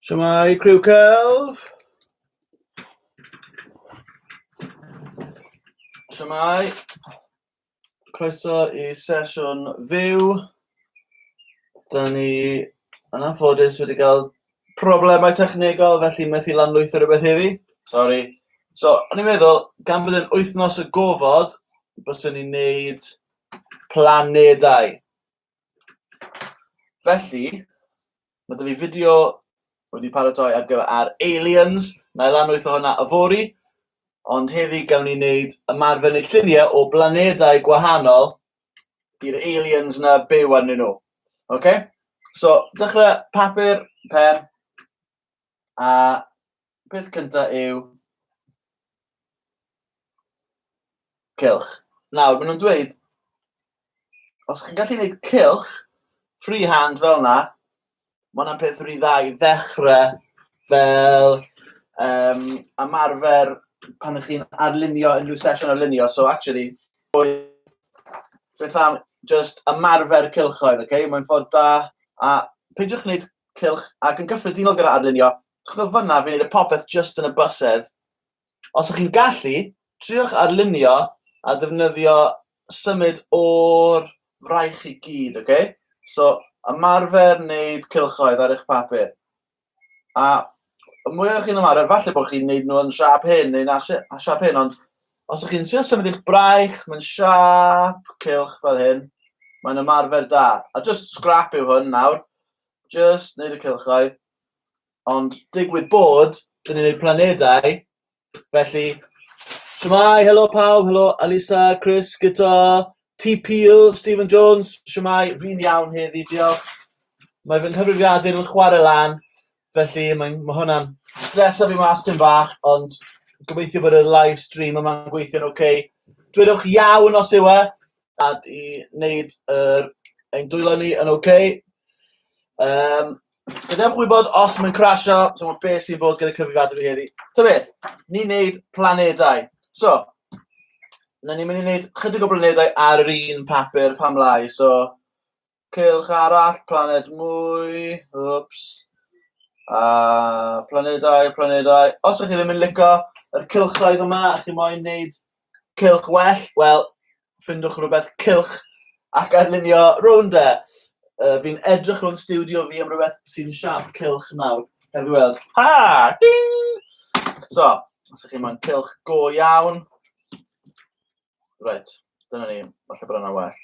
Shwmae, criw celf. Shwmae. Croeso i sesiwn fyw. Da ni yn anffodus wedi cael Problemau technegol, felly methu lanlwytho rhywbeth heddi. Sori. So, o'n i'n meddwl, gan bod yn wythnos y gofod, byswn ni'n neud planedau. Felly, mae dyfu fideo wedi paratoi ar gyfer ar aliens, na i lanwytho hwnna y fori, ond heddi gawn ni wneud ymarfer neu lluniau o blanedau gwahanol Bydd aliens na byw arnyn nhw. OK? So, dechrau papur, pen, a peth cyntaf yw cylch. Nawr, maen nhw'n dweud, os chi'n gallu gwneud cylch, freehand fel yna, Mae hwnna'n peth rhy dda i ddechrau fel um, ymarfer pan ydych chi'n arlunio unrhyw sesiwn arlunio. So actually, beth am just ymarfer cylchoedd, okay? Mae'n ffordd da, a peidiwch wneud cylch ac yn gyffredinol gyda arlunio. Chwbl fyna, fi'n gwneud y popeth just yn y bysedd, Os ych chi'n gallu, triwch arlunio a defnyddio symud o'r fraich i gyd, ok? So, ymarfer wneud cylchoedd ar eich papur. A y mwyaf chi'n ymarfer, falle bod chi'n wneud nhw yn siap hyn neu na siap hyn, ond os ych chi'n siarad symud eich braich, mae'n siap cylch fel hyn, mae'n ymarfer da. A just scrap yw hwn nawr, just wneud y cylchoedd. Ond digwydd bod, dyn ni'n neud planedau, felly... Shwmae, helo pawb, helo Alisa, Chris, Guto, T Peel, Stephen Jones, shwmae, fi'n iawn heddi, diolch. Mae fy nghyfrifiadur yn chwarae lan, felly mae'n ma' hwnna'n stresa fi mas tym bach, ond gobeithio bod y live stream yma'n gweithio'n ok. Dwedwch iawn os yw e, a i wneud yr ein dwylo ni yn ok. Um, Gadewch gwybod os mae'n crasio, so mae beth sy'n bod gyda cyfrifiadur i heddi. Ta beth, ni'n neud planedau. So, na ni'n mynd i wneud chydig o blanedau ar yr un papur pam lai. So, cylch arall, planed mwy, wps, a planedau, planedau. Os ydych chi ddim yn licio yr cylchoedd yma, ydych chi moyn wneud cylch well, wel, ffindwch rhywbeth cylch ac arlunio rownd e. Uh, fi'n edrych o'n studio fi am rhywbeth sy'n siap cylch nawr. Heb i weld. Ha! Ding! So, os ydych chi moyn cylch go iawn. Right, dyna ni. Falle bod yna well.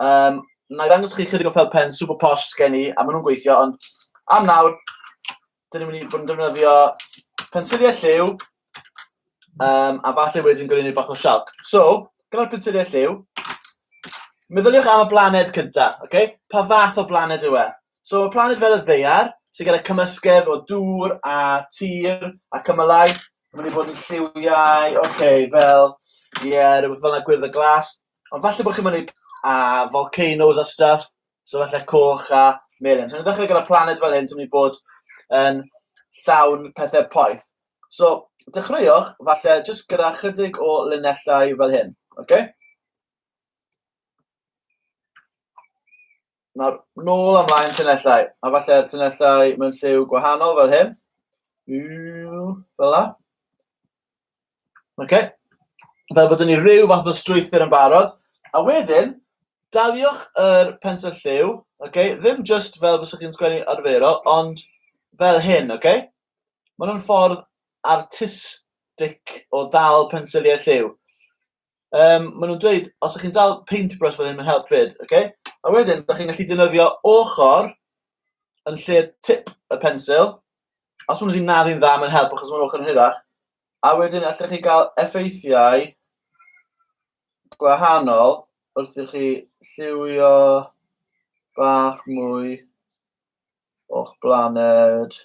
Um, na i ddangos chi chydig o fel pen super posh sgen i, a maen nhw'n gweithio, ond am nawr, dyn ni'n mynd i fod yn defnyddio pensiliau lliw, um, a falle wedyn gwneud bach o sialc. So, gyda'r pensiliau lliw, meddyliwch am y blaned cynta, okay? pa fath o blaned yw e? So, y planed fel y ddeiar, sy'n gyda cymysgedd o dŵr a tir a cymylau, mae'n mynd i fod yn lliwiau, okay, fel, ie, yeah, rhywbeth fel yna gwyrdd y glas, Ond falle bod chi'n mynd i wneud a volcanoes a stuff, so falle coch a melin. So ni'n dechrau gyda planet fel hyn sy'n mynd i bod yn llawn pethau poeth. So dechreuwch falle jyst gyda chydig o linellau fel hyn. Okay? Nawr, nôl amlaen llinellau, a falle llinellau mewn lliw gwahanol fel hyn. Fel la. Oce? Fel bod ni rhyw fath o strwythur yn barod. A wedyn, daliwch yr pensel lliw, oce? Ddim jyst fel fysa chi'n sgwennu arferol, ond fel hyn, oce? Mae hwn yn ffordd artistig o ddal pensiliau lliw. um, maen nhw'n dweud, os ydych chi'n dal paintbrush fel hyn, mae'n help fyd, oce? Okay? A wedyn, ydych chi'n gallu defnyddio ochr yn lle tip y pensil. Os maen nhw'n naddu'n dda, mae'n help achos mae'n ochr yn hirach. A wedyn, allech chi gael effeithiau gwahanol wrth i chi lliwio bach mwy o'ch blaned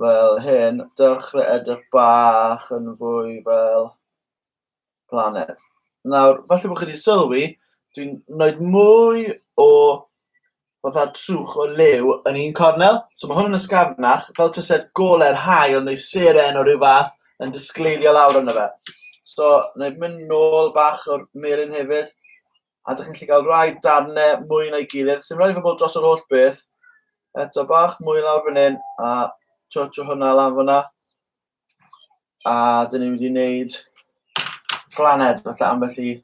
fel hyn, dechrau edrych bach yn fwy fel planed. Nawr, falle bod chi wedi sylwi, dwi'n wneud mwy o fatha trwch o lew yn un cornel. So mae hwn yn ysgafnach, fel tyset gole'r hael neu seren o ryw fath yn disgleilio lawr yna fe. So, wneud mynd nôl bach o'r melin hefyd. a dych chi'n gallu cael rhai darnau mwy na'i gilydd. Sdim rhaid i fod dros yr holl beth. Eto bach mwy lawr fan hyn, a twtio hwnna lan fyna. A dyn ni wedi gwneud planed, falle ambell i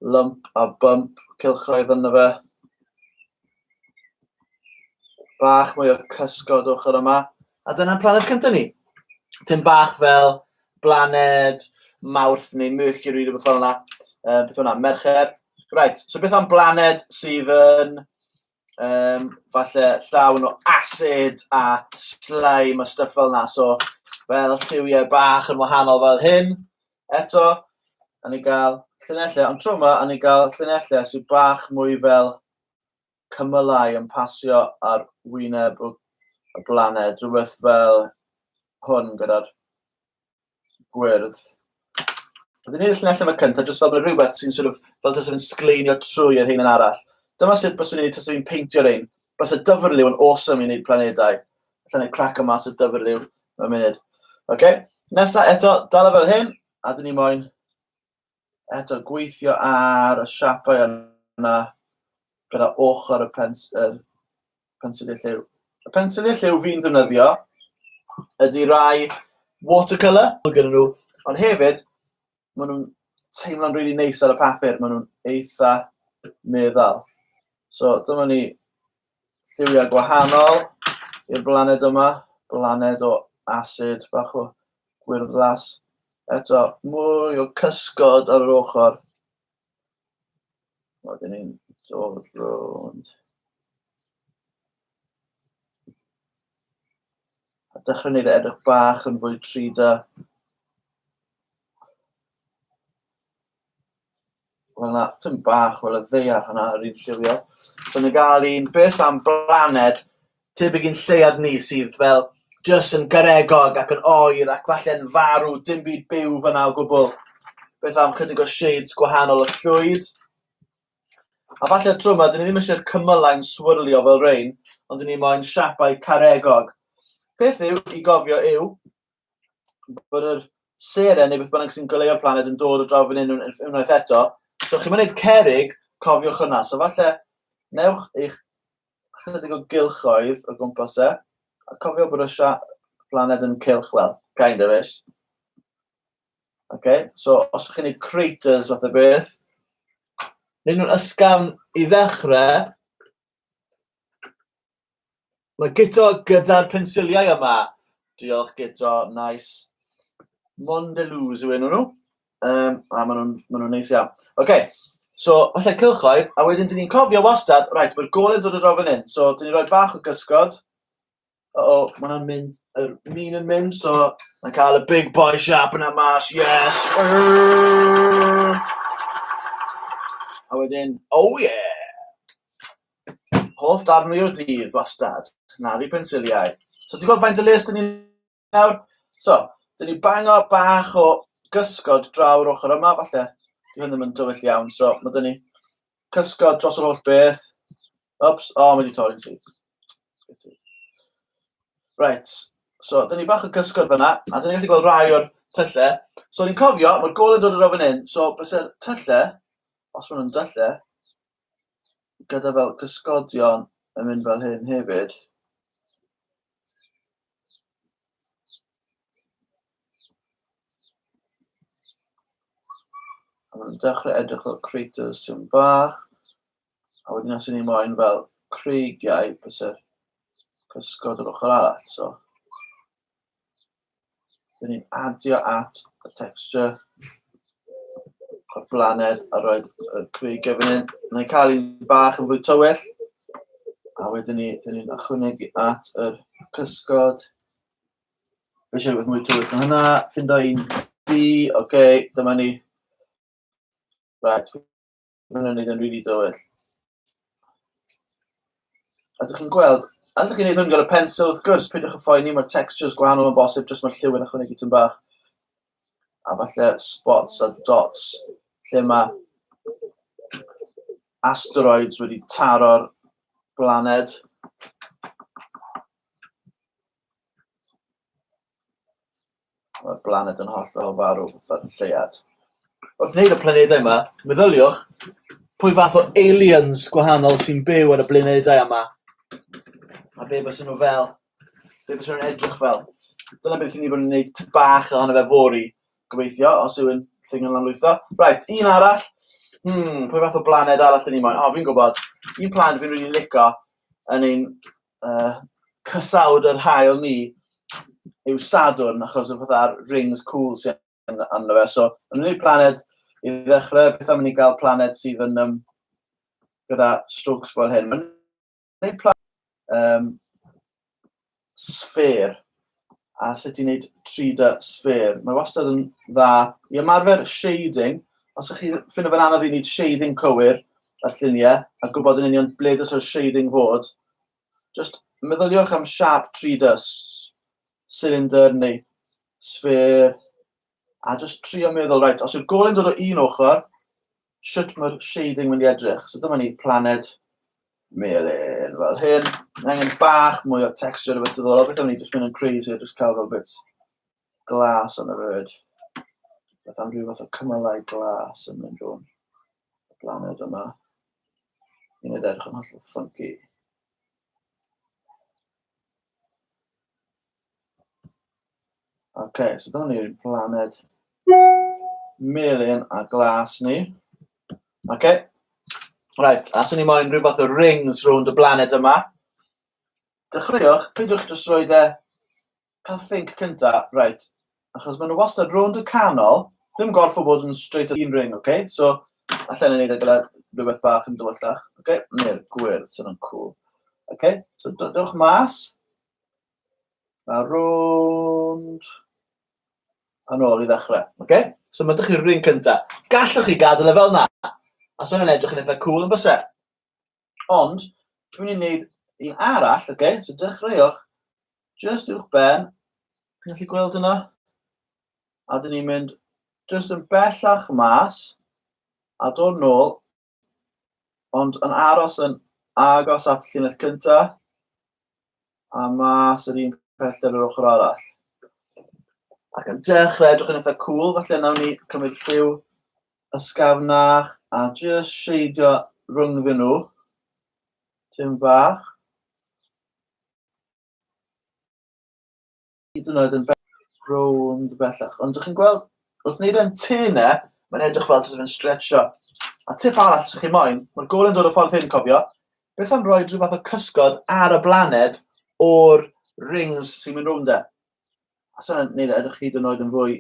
lump a bump cilchroedd yna fe. Bach mwy o cysgod ochr yma. A dyna'n planed cyntaf ni. Tyn bach fel blaned Mawrth neu Mercury, rhywbeth fel yna. Uh, beth yna, Mercher. Right, so beth am blaned sydd yn um, falle llawn o acid a slime a stuff fel yna. So, fel lliwiau bach yn wahanol fel hyn. Eto, a ni gael llunellau, ond tro yma, a ni gael llunellau sydd bach mwy fel cymylau yn pasio ar wyneb y y blaned, rhywbeth fel hwn gyda'r gwyrdd. Dwi'n gwneud y llinell yma cyntaf, jyst fel bod rhywbeth sy'n sort of, fel tasau fe'n sgleinio trwy yr hyn yn arall. Dyma sut bys i'n ei tasau fi'n peintio rhain. Bys y dyfrliw yn awesome i wneud planedau. Alla i crac o mas y dyfrliw mewn munud. OK, nesa eto, dal e fel hyn, a dyn ni moyn eto gweithio ar y siapau yna gyda ochr y pens, er, pensiliau lliw. Y pensiliau lliw fi'n ddefnyddio ydy rai watercolour, mae gen nhw, ond hefyd, maen nhw'n teimlo'n rili really neis ar y papur, maen nhw'n eitha meddal. So dyma ni lliwiau gwahanol i'r blaned yma. Blaned o asid, bach o gwyrddlas. Eto, mwy o cysgod ar yr ochr. Wedyn ni'n dod rownd. A dechrau wneud e edrych bach yn fwy trida. Wel na, tyn bach, wel y ddeiar hwnna yr un lliwio. So ni'n gael un beth am blaned tebyg i'n lleuad ni sydd fel just yn garegog ac yn oer ac falle'n farw, dim byd byw fyna o gwbl. Beth am chydig o shades gwahanol o llwyd? A falle tro yma, dyn ni ddim eisiau'r cymylau'n swirlio fel rein, ond dyn ni moyn siapau caregog. Peth yw i gofio yw, bod yr seren neu beth bynnag sy'n goleuo'r planed yn dod o draw fan hyn unwaith eto. So chi'n mynd cerig, cofiwch hwnna. So falle, newch eich chydig o gylchoedd o gwmpas e, a cofio bod y planed yn cylch, wel, kind of ish. Okay? So, os ydych chi'n gwneud craters fath o beth, neu nhw'n ysgafn i ddechrau, Mae Guto gyda'r pensiliau yma. Diolch Guto, nice. Mondeluz yw enw nhw. Um, a maen nhw'n ma nhw neis iawn. Oce, okay. so falle cylchoedd, a wedyn dyn ni'n cofio wastad, rhaid, mae'r gol yn dod o rofyn hyn. So dyn ni'n rhoi bach o gysgod. O, o mae hwnna'n mynd, yr min yn mynd, so mae'n cael y big boy sharp yna mas, yes. A wedyn, oh yeah. Hoff darn o'r dydd, wastad. Na, fi pensiliau. So, ti'n gweld faint o les dyn ni nawr? So, dyn ni bango bach o gysgod draw'r ochr yma, falle. Dwi hyn ddim yn dywyll iawn, so mae dyn ni cysgod dros yr holl beth. Ops, o, oh, mae wedi torri'n syth. Right, so dyn ni bach o gysgod fyna, a dyn ni'n gallu gweld rai o'r tyllau. So, ni'n cofio, mae'r gol yn dod yn rhywun hyn, so, bys e'r tyllau, os maen nhw'n tyllau, gyda fel cysgodion yn mynd fel hyn hefyd. A mae'n dechrau edrych fel craters sy'n bach. A wedyn os ni moyn fel creigiau, bysau cysgod o'r ochr arall. So, Dyn ni'n adio at y texture y blaned a roed y creigiau fan hyn. Mae'n cael un bach yn fwy tywyll. A wedyn ni, dyn ni'n ychwanegu at yr cysgod. Fe eisiau rhywbeth mwy tywyll na hynna. Ffindo un di, oce, okay, dyma ni. Right, Mae'n hwnna'n neud yn rili dywyll. A dych chi'n gweld, a dych chi'n neud hwn gyda pensel wrth gwrs, peidiwch yn ffoen ni, mae'r textures gwahanol yn bosib, jyst mae'r lliw yn ychwanegu tyn bach. A falle spots a dots, lle mae asteroids wedi taro'r blaned. Mae'r blaned yn hollol farw, fatha'r lleuad. Wrth wneud y planedau yma, meddyliwch pwy fath o aliens gwahanol sy'n byw ar y blanedau yma. A be bys nhw fel? Be bys nhw'n edrych fel? Dyna beth i ni bod yn gwneud ty bach ohono fe fori, gobeithio, os yw'n thing yn lanlwytho. Right, un arall. Hmm, pwy fath o blaned arall dyn ni moyn? O, fi'n gwybod. Un planed fi'n rili really lico yn ein uh, cysawd yr hael ni yw Sadwrn, achos y fatha'r rings cool sy'n anna fe. So, yn unig planed, i ddechrau, beth am ni gael planed sydd yn um, gyda strokes fel hyn. Mae'n unig planed um, sfer. a sut i wneud 3D sffêr. Mae wastad yn dda i ymarfer shading. Os ydych chi'n ffindo fe'n anodd i wneud shading cywir ar lluniau a gwybod yn union ble dylse'r shading fod, jyst meddyliwch am siap 3D, cylinder neu sffêr, a jyst trio meddwl, reit, os yw'r gole'n dod o un ochr, shwt mae'r shading mynd i edrych. So dyma ni planed melyn fel hyn. Angen bach mwy o texture o beth diddorol. Beth am ni jyst mynd yn crazy a jyst cael fel bit glas on y fyd. Beth am rhyw fath o cymalau glas yn mynd rhwng y planed yma. Yn edrych yn hollol funky. Ok, so dyma ni'r planed melyn a glas ni. Ok, right, a swn i moyn rhyw fath o rings rownd y blaned yma. Dechreuwch, peidiwch jyst rhoi de, cael think cynta, right, achos maen nhw wastad rownd y canol, ddim gorff o bod yn straight o un ring, ok? So, allan yn ei gyda rhywbeth bach yn dywyllach, ok? Neu'r gwyrdd, sy'n o'n cool. Ok, so dewch mas. A rownd. A nôl i ddechrau. Okay? So mae dych chi'r rhywun cyntaf. Gallwch chi gadael e fel na. A so hwnna'n edrych yn eitha cool yn bysau. Ond, dwi'n mynd i wneud un arall, okay? so dechreuwch just uwch ben. Chi'n gallu gweld yna? A dyn ni'n mynd just yn bellach mas a dod nôl Ond yn aros yn agos at y llinell cynta, a mas yr un pellter yr ochr arall. Ac yn dechrau edrych yn eitha cool, falle nawn ni cymryd lliw ysgafnach a just sheidio rhyngddyn nhw. Tim bach. hyd yn oed yn rownd bellach. Ond ydych chi'n gweld, wrth wneud e'n tu yna, mae'n edrych fel sydd yn stretcho. A tip arall, ydych chi'n moyn, mae'r gol yn dod o ffordd hyn, cofio, beth am roi rhyw fath o cysgod ar y blaned o'r rings sy'n mynd rownd e. A sy'n gwneud e edrych hyd yn oed yn fwy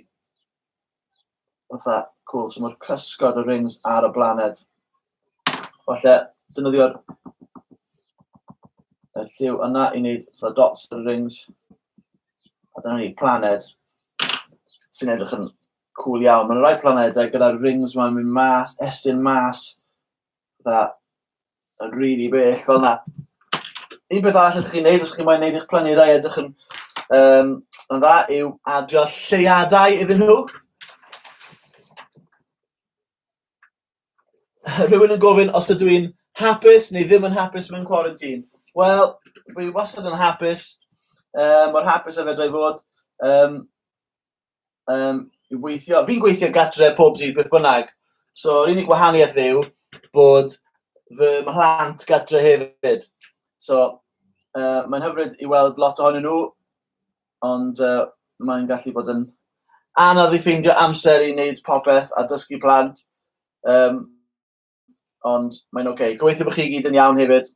Fatha, cool, so mae'r cysgod y rings ar y blaned. Falle, dynyddio'r y lliw yna i wneud fatha dots ar y rings. A dyna ni, planed sy'n edrych yn cool iawn. Mae'n rhai planedau gyda'r rings mae'n mynd mas, estyn mas, dda yn rili really bell fel yna. Un peth arall ydych chi'n neud, os chi'n moyn neud eich planedau edrych yn, um, yn dda, yw adio lleiadau iddyn nhw. Rhywun yn gofyn os ydw i'n hapus neu ddim yn hapus mewn quarantine. Wel, fi wastad yn hapus, um, mor hapus a fedra i fod. Um, um, i weithio. Fi'n gweithio gatre pob dydd beth bynnag. So, yr unig wahaniaeth yw bod fy mhlant gatre hefyd. So, uh, mae'n hyfryd i weld lot ohonyn nhw, ond uh, mae'n gallu bod yn anodd i ffeindio amser i wneud popeth a dysgu plant. Um, ond mae'n oce. Okay. Gobeithio bod chi gyd yn iawn hefyd.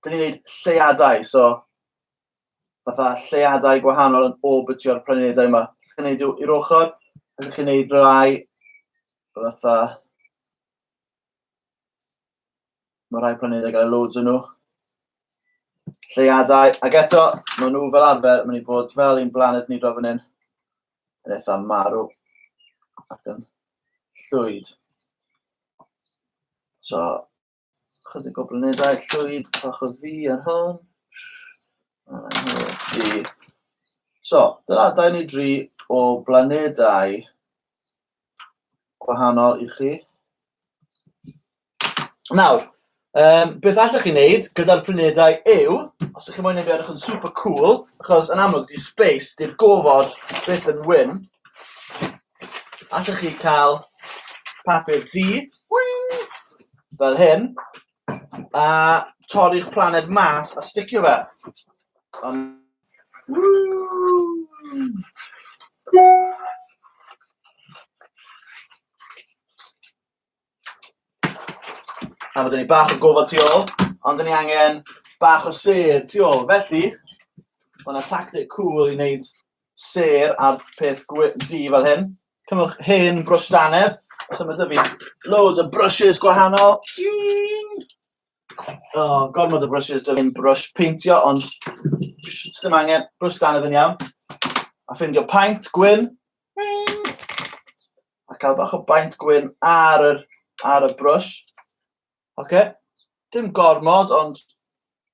Dyn ni'n gwneud lleiadau, so fatha lleiadau gwahanol yn orbitio'r planedau yma. Ydych chi'n gwneud i'r ochr, ydych chi'n gwneud rhai fatha... Mae rhai planedau gael loads yn nhw. Lleiadau, ac eto, maen nhw fel arfer, maen nhw bod fel un blaned ni dro fan hyn. yn eitha marw ac yn llwyd. So, chydig o blanedau llwyd bach o fi ar hwn. So, dyna dau neu dri o blanedau gwahanol i chi. Nawr, um, beth allwch chi wneud gyda'r planedau yw, os ydych chi'n mwyn ei edrych yn super cool, achos yn amlwg di space, di'r gofod beth yn wyn, allwch chi cael papur di, fel hyn, A torri'ch planed mas a sticio fe. Um, a mae dyn ni bach o gofod tu ôl, ond dyn ni angen bach o sedd tu ôl. Felly, mae yna tactic cool i wneud sêr ar peth gwe- du fel hyn. Cymwch hen brwsh danedd. So mae dyfu loads o brushes gwahanol. Oh, gormod o brushes dyfu yn brwsh peintio, ond ddim angen brwsh danedd yn iawn. A ffindio paint gwyn. A cael bach o baint gwyn ar y, ar y brwsh. Oce. Okay. Dim gormod, ond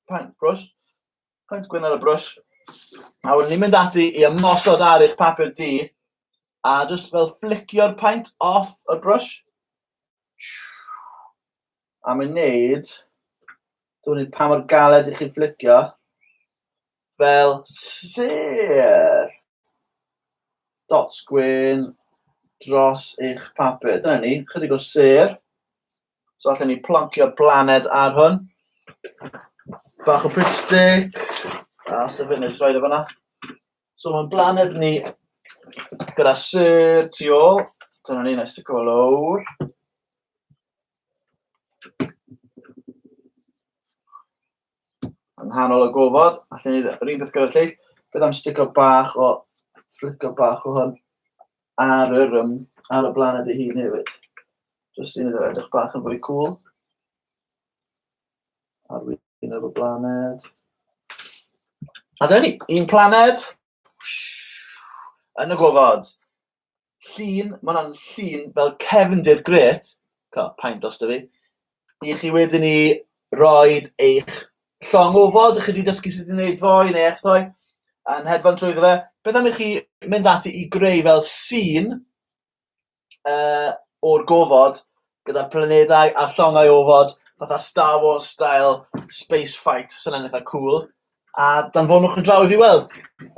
paint brwsh. Pwynt gwyn ar y brwys. A wedyn ni'n mynd ati i ymosod ar eich papur di, a just fel flicio'r paint off y brwys. A mae'n neud, dwi'n neud pa mor galed i chi flicio, fel sir. Dots gwyn dros eich papur. Dyna ni, chydig o sir. So allan ni ploncio'r blaned ar hwn. Bach o Brit Stick. A sef hyn, jyst rhaid o fanna. So mae'n blaned ni gyda syr tu ôl. Dyna ni, nes sticio fo lawr. Yn nghanol y gofod, allan ni'r un peth gyda'r lleill. Beth am stico bach o fflico bach o hwn ar yr, um, ar y blaned ei hun hefyd. Just i wneud edrych bach yn fwy cool. Ar wyn o'r blaned. A dyna ni, un planed yn y gofod. llun, mae hwnna'n llun fel cefndir gret, cael pain dros dy fi, i chi wedyn ni roi eich llong ofod, chi wedi dysgu sut i wneud fo, i wneud echddo, a'n hedfan trwy fe. Beth am i chi mynd ati i greu fel sîn uh, o'r gofod gyda planedau a llongau ofod, fatha Star Wars style space fight, sy'n so eitha cool. A danfonwch yn draw i fi weld.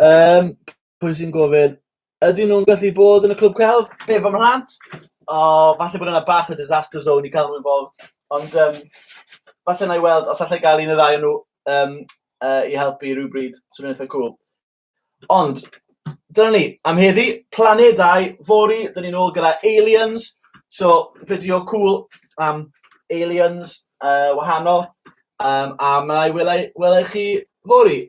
Um, pwy sy'n gofyn Ydyn nhw'n gallu bod yn y clwb celf? Be, fy mhlant? O, falle bod yna bach o disaster zone i cael nhw involved. Ond um, falle na i weld os allai gael un o ddau o nhw um, uh, i helpu rhywbryd. Swn i'n eitha cool. Ond, dyna ni. Am heddi, planedau, fori, dyn ni'n ôl gyda aliens. So, fideo cool am aliens uh, wahanol. Um, a mae i welai, welai chi fori.